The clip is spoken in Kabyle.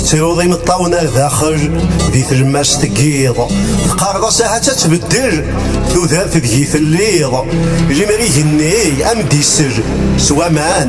tettruḍ imeṭṭawen ar daxel di tlemmast n yiḍ teqqareḍ-as ahat ad tbeddel tudert deg-i telliḍ limer igenni am d-isel s waman